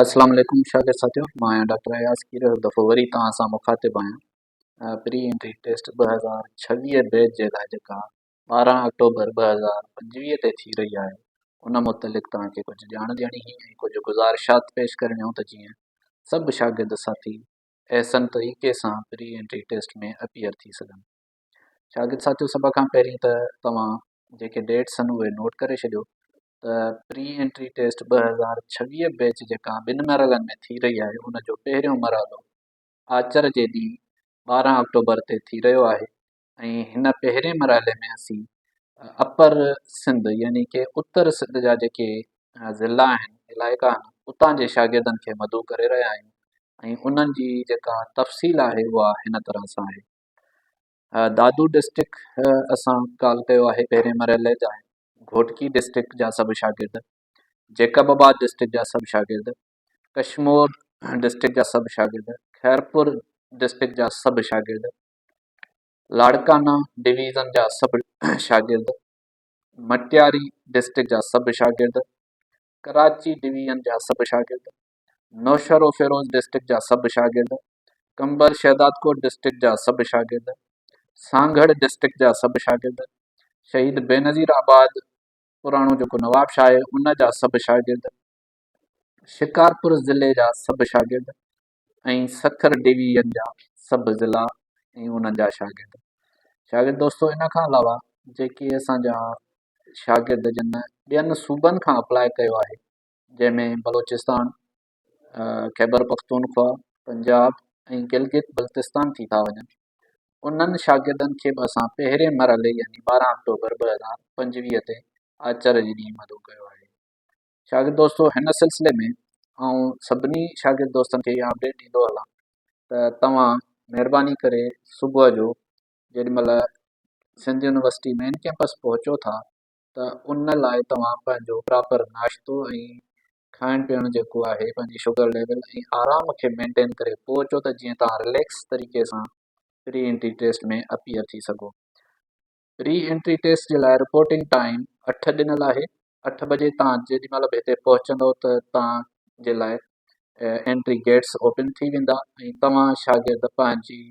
اسلام عليڪم شاگرد ساٿيو مان آهيان ڊاڪٽر اياز کير هڪ دفعو وري توهان سان مخاطب آهيان پري انٽري ٽيسٽ ٻه هزار ڇويهه بيچ جي لاء جيڪا ٻارهن آڪٽوبر ٻه هزار پنجويهه تي ٿي رهي آهي ان متعلق توهان کي ڪجهه ڄاڻ ڏيڻي هئي ۽ ڪجهه گذارشات پيش ڪرڻيون ته جيئن سڀ شاگرد ساٿي احسن طريقي سان پري انٽري ٽيسٽ ۾ اپيئر ٿي سگهن شاگرد ساٿيو سڀ کان پهرين ته توهان جيڪي ڊيٽس آهن اهي نوٽ ڪري ڇڏيو ته پري انٽري ٽيسٽ ٻه هزار ڇويهه بيچ جيڪا ٻن مرحلن ۾ ٿي رهي آهي ان جو پهريون مرحلو آچر جي ڏينهن ٻارهن آڪٽوبر تي ٿي رهيو آهي ۽ هن پهرين مرحلي ۾ اسين اپر سنڌ يعني ڪي اتر سنڌ جا جيڪي ضلع آهن علائقا آهن اتان جي شاگردن کي مدعو ڪري رهيا آهيون ۽ انهن جي جيڪا تفصيل آهي اها هن طرح سان آهي دادو ڊسٽرڪ اسان ڪال ڪيو آهي پهرين مرحلي جا گهوٽڪي ڊسٽرڪٽ جا سڀ شاگرد، جيڪب آباد ڊسٽرڪٽ جا سڀ شاگرد، ڪشمور ڊسٽرڪٽ جا سڀ شاگرد، خيرپور ڊسٽرڪٽ جا سڀ شاگرد، لاڙڪانا ڊويزن جا سڀ شاگرد، مٽياري ڊسٽرڪٽ جا سڀ شاگرد، ڪراچي ڊويزن جا سڀ شاگرد، نوشهروفيروز ڊسٽرڪٽ جا سڀ شاگرد، قمبر شهدادڪوٽ ڊسٽرڪٽ جا سڀ شاگرد، سانگهڙ ڊسٽرڪٽ جا سڀ شاگرد، شهيد بينظير آباد پراڻو جيڪو نوابشاهه آهي ان جا سڀ شاگرد، شڪارپور ضلعي جا سڀ شاگرد ۽ سکر ڊويزن جا سڀ ضلعا ۽ انهن جا شاگرد شاگرد دوستو ان کان علاوه جيڪي اسان جا شاگرد جن ٻين صوبن کان اپلاء ڪيو آهي جنهن ۾ بلوچستان، خيبرپختونخوا، پنجاب ۽ گلگت بلتستان ٿي ٿا وڃن. انهن شاگردن کي به اسان پهرين مرحلي يعني ٻارهن آڪٽوبر ٻه هزار پنجويهه تي آچر جي ڏينهن مدعو ڪيو آهي. شاگرد دوستو هن سلسلي ۾ آئون سڀني شاگرد دوستن کي اها اپڊيٽ ڏيندو هلان ته توهان مهرباني ڪري صبح جو جيڏي مهل سنڌ يونيورسٽي مين ڪيمپس پهچو ٿا ته ان لاء توهان پنهنجو پراپر ناشتو ۽ کائڻ پيئڻ جيڪو آهي پنهنجي شگر ليول ۽ آرام کي مينٽين ڪري پوء اچو ته جيئن توهان رليڪس طريقي سان پري انٽري ٽيسٽ ۾ اپيئر ٿي سگهو پري انٽري ٽيسٽ جي لاء رپورٽنگ ٽائيم اٺ ڏنل آهي اٺ بجي توهان جيڏي مهل به هتي پهچندو ته توهان جي لاء انٽري گيٽس اوپن ٿي ويندا ۽ توهان شاگرد پنهنجي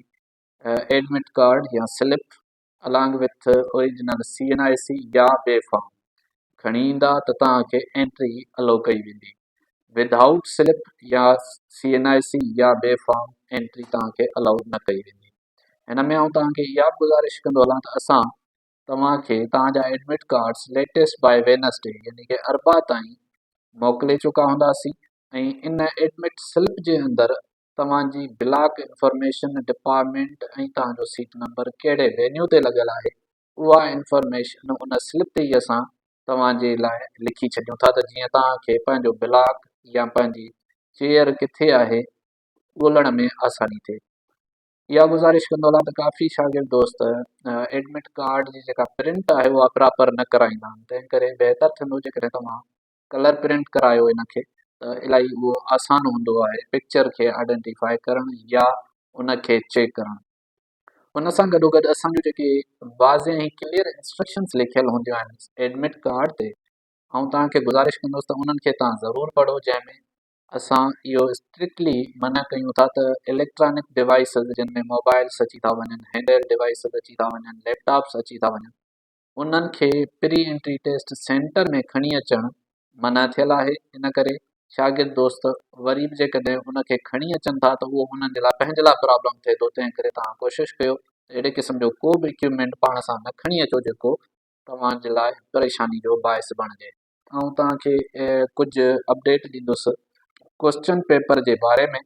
ايڊمٽ ڪارڊ يا slip Along with Original CNIC يا ٻي فارم کڻي ايندا ته توهان کي انٽري الو ڪئي ويندي. Without Slip يا CNIC يا ٻي فارم انٽري توهان کي الو نه ڪئي ويندي. هن ۾ آئون توهان کي اها به گذارش ڪندو هلان ته اسان توهان کي توهان جا admit cards latest by Wednesday يعني ڪي اربع تائين موڪلي چڪا هونداسين ۽ ان ايڊمٽ سلپ جي اندر توهان جي بلاڪ انفارميشن ڊپارٽمينٽ ۽ توهان جو سيٽ نمبر ڪهڙي وينيو تي لڳل آهي اها انفارميشن ان سلپ تي ئي اسان توهان جي لاء لکي ڇڏيون ٿا ته جيئن توهان کي پنهنجو بلاڪ يا پنهنجي چيئر ڪٿي آهي ڳولڻ ۾ آساني ٿئي اها گذارش ڪندو هلان ته ڪافي شاگرد دوست ايڊمٽ ڪارڊ جي جيڪا پرنٽ آهي اها پراپر نه ڪرائيندا آهن تنهن ڪري بهتر ٿيندو جيڪڏهن توهان ڪلر پرنٽ ڪرايو ان کي ته الائي اهو آسان هوندو آهي پڪچر کي آئيڊينٽيفائي ڪرڻ يا ان کي چيڪ ڪرڻ ان سان گڏو گڏ اسان جون جيڪي واضح ۽ ڪليئر انسٽرڪشنس لکيل هونديون آهن ايڊمٽ ڪارڊ تي آئون توهان کي گذارش ڪندس ته انهن کي توهان ضرور پڙهو جنهن ۾ اسان اهو اسٽرڪلي منع ڪيون ٿا ته اليڪٽرانڪ ڊوائسز جن ۾ موبائلس اچي ٿا وڃن هينڊ هيلڊ ڊوائسز اچي ٿا وڃن ليپ ٽاپس اچي ٿا وڃن انهن کي پري انٽري ٽيسٽ سينٽر ۾ کڻي اچڻ منع ٿيل آهي ان ڪري شاگرد دوست وري به جيڪڏهن ان کي کڻي اچن ٿا ته اهو انهن جي لاء پنهنجي لاء پرابلم ٿئي ٿو تنهن ڪري توهان ڪوشش ڪيو ته اهڙي قسم جو ڪو به اڪيوپمينٽ پاڻ سان نه کڻي اچو جيڪو توهان جي لاء پريشاني جو باعث بڻجي. آئون توهان کي ڪجهه اپڊيٽ ڏيندس ڪوسچن پيپر جي باري ۾.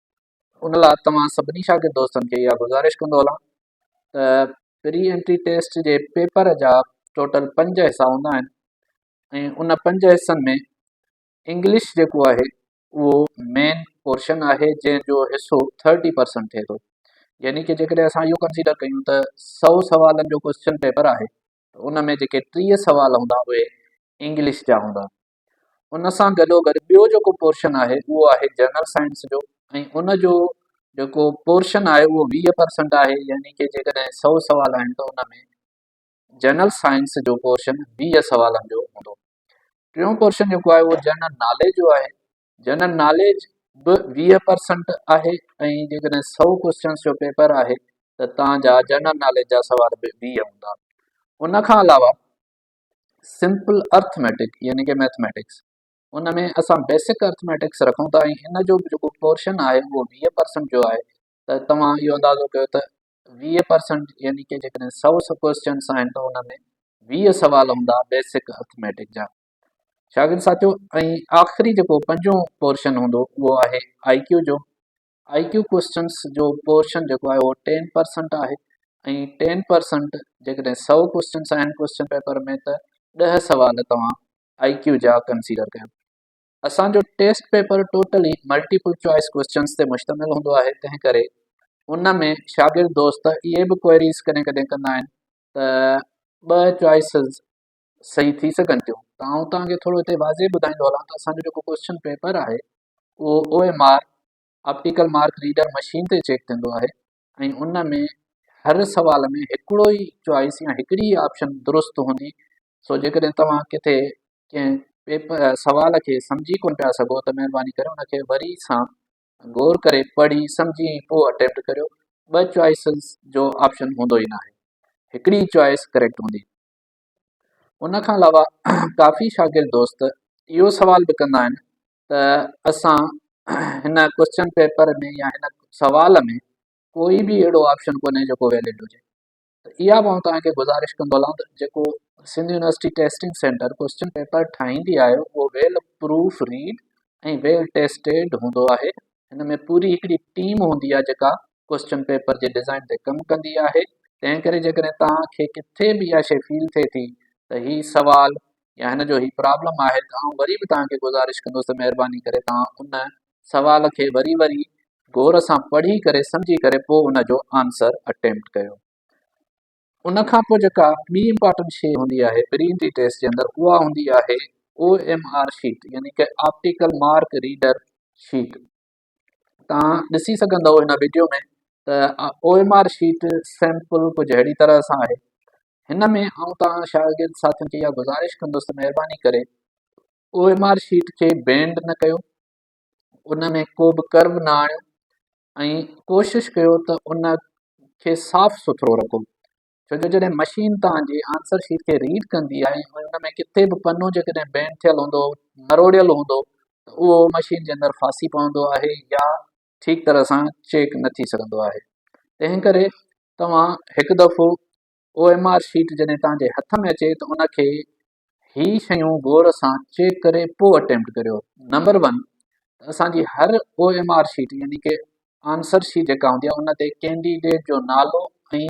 ان لاء توهان سڀني شاگرد دوستن کي اها گذارش ڪندو هلان ته پري انٽري ٽيسٽ جي پيپر جا ٽوٽل پنج حصا هوندا آهن ۽ ان پنج حصن ۾ انگلش جيڪو آهي اهو مين پورشن آهي جنهن جو حصو ٿرٽي پرسنٽ ٿئي ٿو يعني ڪي جيڪڏهن اسان اهو ڪنسيڊر ڪيون ته سؤ سوالن جو ڪوشچن پيپر آهي ان ۾ جيڪي ٽيهه سوال هوندا اهي انگلش جا هوندا ان سان گڏو گڏ ٻيو جيڪو پورشن آهي اهو آهي جنرل سائنس جو ۽ ان جو جيڪو پورشن آهي اهو ويهه پرسنٽ آهي يعني ڪي جيڪڏهن سؤ سوال آهن ته ان ۾ جنرل سائنس جو پورشن ويهه سوالن جو هوندو ٽيون پورشن جيڪو آهي اهو جنرل ناليج جو آهي جنرل ناليج به ويهه پرسنٽ آهي ۽ جيڪڏهن سؤ ڪوشچنس جو پيپر آهي ته تان جا جنرل ناليج جا سوال به ويهه هوندا ان کان علاوه سمپل ارٿميٽڪ يعني ڪي مئٿميٽڪس ان ۾ اسان بيسڪ ارٿميٽڪس رکون ٿا ۽ ان جو جيڪو پورشن آهي اهو ويهه پرسنٽ جو آهي ته توهان اهو اندازو ڪيو ته ويهه پرسنٽ يعني ڪي جيڪڏهن سؤ سڪويسچنس آهن ته ان ۾ ويهه سوال هوندا بيسڪ ارٿميٽڪ جا شاگرد ساتھيو ۽ آخري جيڪو پنجون پورشن هوندو اهو آهي آئي ڪيو جو آئي ڪيو ڪوشچنس جو پورشن جيڪو آهي اهو ٽين پرسنٽ آهي ۽ ٽين پرسنٽ جيڪڏهن سؤ ڪوشچنس آهن ڪوشچن پيپر ۾ ته ڏهه سوال توهان آئي ڪيو جا ڪنسيڊر ڪيو اسان جو test paper totally multiple choice questions تي مشتمل هوندو آهي تنهن ڪري ان ۾ شاگرد دوست اهي به ڪوئريز ڪڏهن ڪڏهن ڪندا آهن ته ٻه چوائسز صحيح ٿي سگهن ٿيون ته آئون توهان کي ٿورو هتي واضح ٻڌائيندو هلان ته اسان جو جيڪو ڪوئسچن پيپر آهي اهو O M R optical mark reader machine تي چيڪ ٿيندو آهي ۽ ان ۾ هر سوال ۾ هڪڙو ئي چوائس يا هڪڙي ئي آپشن درست هوندي سو جيڪڏهن توهان ڪٿي ڪنهن پيپر سوال کي سمجهي ڪونه پيا سگهو ته مهرباني ڪري ان کي وري سان غور ڪري پڙهي سمجهي ۽ پوء اٽيمپٽ ڪريو ٻه چوائسز جو آپشن هوندو ئي ناهي هڪڙي ئي چوائس ڪريڪٽ هوندي ان کان علاوه ڪافي شاگرد دوست اهو سوال به ڪندا آهن ته اسان هن ڪوشچن پيپر ۾ يا هن سوال ۾ ڪوئي به اهڙو آپشن ڪونهي جيڪو ويلڊ هجي ته اها به آئون توهان کي گذارش ڪندو هلان ته جيڪو Sindh university testing centre question paper ٺاهيندي آهي اهو well proof read ۽ well tested هوندو آهي هن ۾ پوري هڪڙي ٽيم هوندي آهي جيڪا ڪوئسچن پيپر جي ڊزائين تي ڪم ڪندي آهي تنهن ڪري جيڪڏهن توهان کي ڪٿي به اها شيء فيل ٿئي ٿي ته هي سوال يا هن جو هي پرابلم آهي ته آئون وري به توهان کي گذارش ڪندس ته مهرباني ڪري توهان ان سوال کي وري وري غور سان پڙهي ڪري سمجهي ڪري پوء ان جو آنسر اٽيمپٽ ڪيو ان کان پوء جيڪا ٻي امپارٽنٽ شيء هوندي آهي پري انٽري ٽيسٽ جي اندر اها هوندي آهي او ايم آر شيٽ يعني ڪي آپٽيڪل مارڪ ريڊر شيٽ توهان ڏسي سگهندؤ هن وڊيو ۾ ته O M R sheet sample ڪجهه اهڙي طرح سان آهي هن ۾ آئون توهان شاگرد ساٿين کي اها گذارش ڪندس ته مهرباني ڪري او ايم آر شيٽ کي بينڊ نه ڪيو ان ۾ ڪو به ڪرو نه آڻيو ۽ ڪوشش ڪيو ته ان کي صاف سٿرو رکو ڇو جو جڏهن مشين توهان جي آنسر شيٽ کي ريڊ ڪندي آهي ۽ ان ۾ ڪٿي به پنو جيڪڏهن بينڊ ٿيل هوندو مروڙيل هوندو ته اهو مشين جي اندر ڦاسي پوندو آهي يا ٺيڪ طرح سان چيڪ نه ٿي سگهندو آهي تنهن ڪري توهان هڪ دفعو او ايم آر شيٽ جڏهن توهان جي هٿ ۾ اچي ته ان کي هي شيون غور سان چيڪ ڪري پوء اٽيمپٽ ڪريو نمبر ون ته اسان جي هر او ايم آر شيٽ يعني ڪي آنسر شيٽ جيڪا هوندي آهي ان تي ڪينڊيڊيٽ جو نالو ۽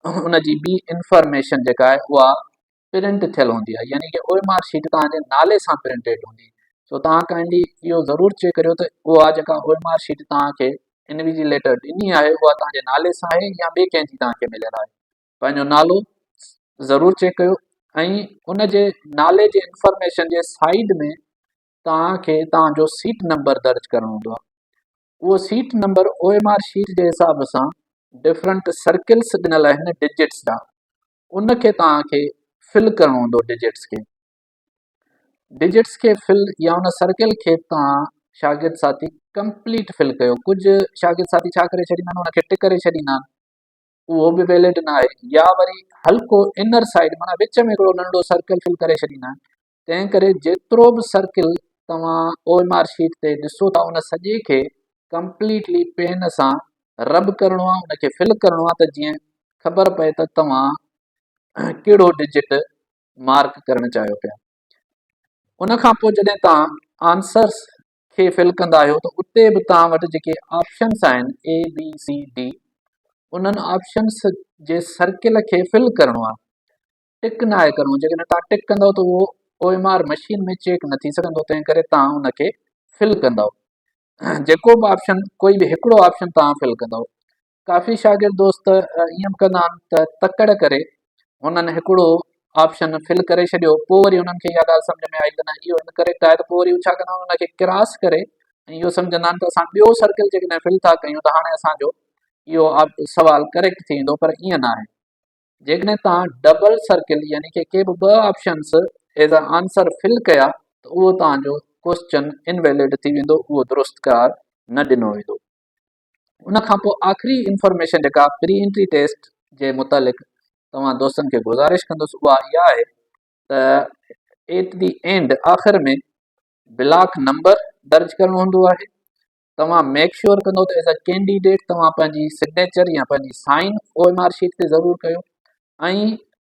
ان جي ٻي انفارميشن جيڪا آهي اها پرنٽ ٿيل هوندي آهي يعني ڪي او ايم آر شيٽ توهان جي نالي سان پرنٽيڊ هوندي سو توهان کانئنڊي اهو ضرور چيڪ ڪريو ته اها جيڪا او ايم آر شيٽ توهان کي انويجيليٽر ڏني آهي اها توهان جي نالي سان آهي يا ٻي ڪنهن جي توهان کي مليل آهي پنهنجو نالو ضرور چيڪ ڪيو ۽ ان جي نالي جي انفارميشن جي سائيڊ ۾ توهانکي توهانجو سيٽ نمبر درج ڪرڻو هوندو آهي اهو seat number O M R sheet جي حساب سان ڊفرنٽ سرڪلس ڏنل آهن ڊجٽس جا ان کي توهانکي فل ڪرڻو هوندو ڊجٽس کي ڊجٽس کي فل يا ان سرڪل کي توهان شاگرد ساٿي ڪمپليٽ فل ڪيو ڪجهه شاگرد ساٿي ڇا ڪري ڇڏيندا آهن ان کي ٽڪ ڪري ڇڏيندا آهن اهو به ويلڊ نه آهي يا وري هلڪو انر سائيڊ معنيٰ وچ ۾ هڪڙو ننڍڙو سرڪل فل ڪري ڇڏيندا آهن تنهن ڪري جيترو به سرڪل توهان او ايم آر شيٽ تي ڏسو ٿا ان سڄي کي ڪمپليٽلي پين سان رب ڪرڻو آهي ان کي فل ڪرڻو آهي ته جيئن خبر پئي ته توهان ڪهڙو ڊجٽ مارڪ ڪرڻ چاهيو پيا ان کان پوء جڏهن توهان آنسرس کي فل ڪندا آهيو ته اتي به توهان وٽ جيڪي آپشنس آهن اي بي سي ڊي انهن آپشنس جي سرڪل کي فل ڪرڻو آهي ٽڪ نه آهي ڪرڻو جيڪڏهن توهان ٽڪ ڪندو ته اهو O M R machine ۾ check نه ٿي سگهندو تنهن ڪري توهان ان کي فل ڪندو جيڪو به آپشن ڪوئي به هڪڙو آپشن توهان فل ڪندو ڪافي شاگرد دوست ائين به ڪندا آهن ته تڪڙ ڪري هنن هڪڙو آپشن فل ڪري ڇڏيو پوء وري هنن کي اها ڳالهه سمجهه ۾ آئي ته نه اهو انڪريڪٽ آهي ته پوء وري هو ڇا ڪندا آهن ان کي ڪراس ڪري ۽ اهو سمجهندا آهن ته اسان ٻيو سرڪل جيڪڏهن فل ٿا ڪيون ته هاڻي اسان جو اهو سوال ڪريڪٽ ٿي ويندو پر ائين ناهي جيڪڏهن توهان ڊبل سرڪل يعني ڪي ڪي به ٻه options as a answer fill ڪيا ته اهو توهان جو ڪوشچن انويلڊ ٿي ويندو اهو درست قرار نه ڏنو ويندو ان کان پوء آخري انفارميشن جيڪا پري انٽري ٽيسٽ جي متعلق توهان دوستن کي گذارش ڪندس اها اها آهي ته ايٽ دي اينڊ آخر ۾ بلاڪ نمبر درج ڪرڻو هوندو آهي توهان ميڪ شور ڪندو ته ايز اي ڪينڊيڊيٽ توهان پنهنجي سگنيچر يا پنهنجي sign O M R sheet تي ضرور ڪيو ۽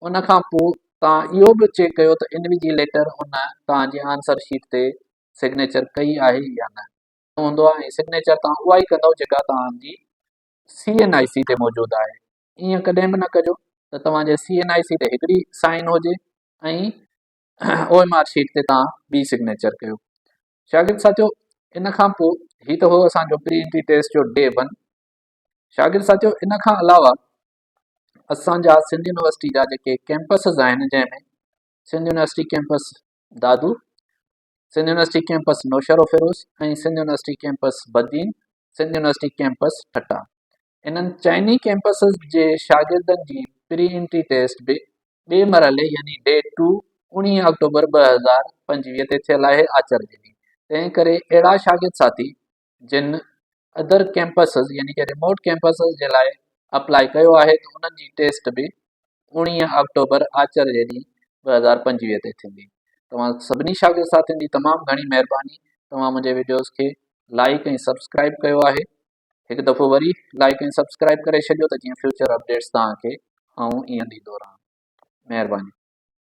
ان کان پوء توهان اهو به چيڪ ڪيو ته انويجيليٽر ان توهان جي آنسر شيٽ تي سگنيچر ڪئي آهي يا نه هوندو آهي ۽ سگنيچر توهان اها ئي ڪندو جيڪا توهان جي سي اين آئي سي تي موجود آهي ائين ڪڏهن به نه ڪجو ته توهان جي سي اين آئي سي تي هڪڙي سائن هجي ۽ او ايم آر شيٽ تي توهان ٻي سگنيچر ڪيو شاگرد ساٿيو ان کان پوء هي ته هو اسان جو پري انٽري ٽيسٽ جو ڊي ون شاگرد ساٿيو ان کان علاوه اسان جا سنڌ يونيورسٽي جا جيڪي ڪيمپسز آهن جنهن ۾ Sindh university campus Dadu Sindh university campus Naushahro Feroze ۽ Sindh university campus Badin, Sindh university campus Thatta. انهن چئني ڪيمپسز جي شاگردن جي پري انٽري ٽيسٽ به ٻئي مرحلي يعني ڊي ٽو اوڻيهه آڪٽوبر ٻه هزار پنجويهه تي ٿيل آهي آچر جي ڏينهن، تنهن ڪري اهڙا شاگرد ساٿي جن Other Campuses يعني ڪي Remote Campuses جي لاء Apply ڪيو آهي ته انهن جي Test به اوڻيهه آڪٽوبر آچر جي ڏينهن ٻه هزار پنجويهه تي ٿيندي. توهان سڀني شاگرد ساٿين جي تمام گهڻي مهرباني توهان منهنجي وڊيوز کي لائيڪ ۽ سبسڪرائيب ڪيو آهي هڪ دفعو وري لائيڪ ۽ سبسڪرائيب ڪري ڇڏيو ته جيئن فيوچر اپڊيٽس توهان کي آئون ائين ڏيندو رهان مهرباني.